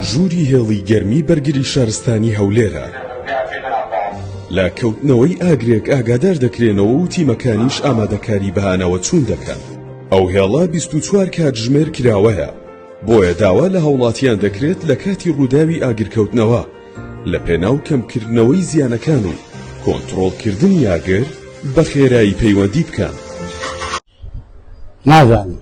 ژووری هێڵی گەرمی بەرگری شارستانی هەولێرە لە کەوتنەوەی ئاگرێک ئاگادار دەکرێنەوە و تیمەکانیش ئامادەکاری بەهانەوە چوون دەکەن ئەو هێڵە 24 کاتژمێر کراوەیە بۆیە داوا لە هاوڵاتیان دەکرێت لە کاتی ڕووداوی ئاگرکەوتنەوە لە پێناو کەمکردنەوەی زیانەکان و کۆنتترۆڵکردن یاگر بە خێرایی پەیوەندی بکەن نازانم.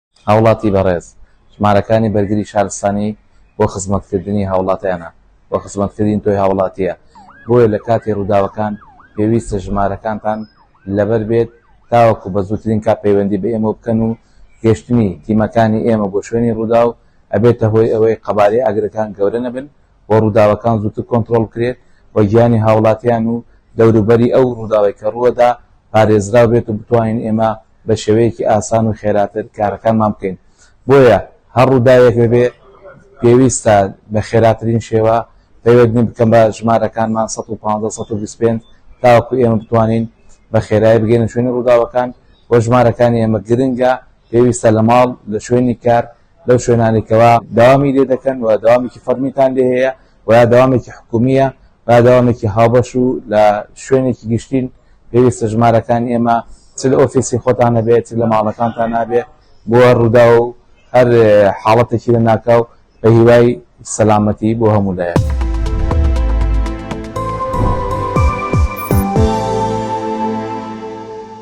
هاوڵاتی بەڕێز ژمارەکانی بەرگری شارستانی بۆ خزمەت کردنی هاوڵاتیانە و خزمەت کردین تۆی هاوڵاتیە بۆیە لە کاتی ڕووداوەکان پێویستە ژمارەکانتان لەبەر بێت تاوەکو بە زووترین کات پەیوەندی بە ئێمە بکەن و گەشتنی تیمەکانی ئێمە بۆ شوێنی ڕووداو ئەبێتە هۆی ئەوەی قەبارەی ئاگرەکان گەورە نەبن بۆ ڕووداوەکان زووتر کۆنترۆڵ بکرێت و گیانی هاوڵاتیان و دەوروبەری ئەو ڕووداوەی کە ڕووەدا پارێزراو بێت و بتوانین ئێمە بە شێوەیەکی ئاسان و خێراتر کارەکانمان بکەین بۆیە هەر ڕووداوێک ببێ پێویستە بە خێراترین شێوە پەیوەندی بکەم بە ژمارەکانمان 1525 تاوەکو ئێمە بتوانین بە خێرای بگەینە شوێنی ڕووداوەکان وە ژمارەکانی ئێمە گرنگە پێویستە لە ماڵ لە شوێنی کار لەو شوێنانی کەوا داوامی لێ دەکەن و داوامێکی فەرمیتان لێ هەیە و یا داوامێکی حکومیە و داوامێکی هاوبەش و لە شوێنێکی گشتین پێویستە ژمارەکان ئێمە چ لە ئۆفیسی خۆتان نەبێت لە ماڵەکانتان نابێت بۆ ڕوودا و هەر حاڵەتێکی لە ناکاو بە هیوای سەلامەتی بۆ هەموو لایەک.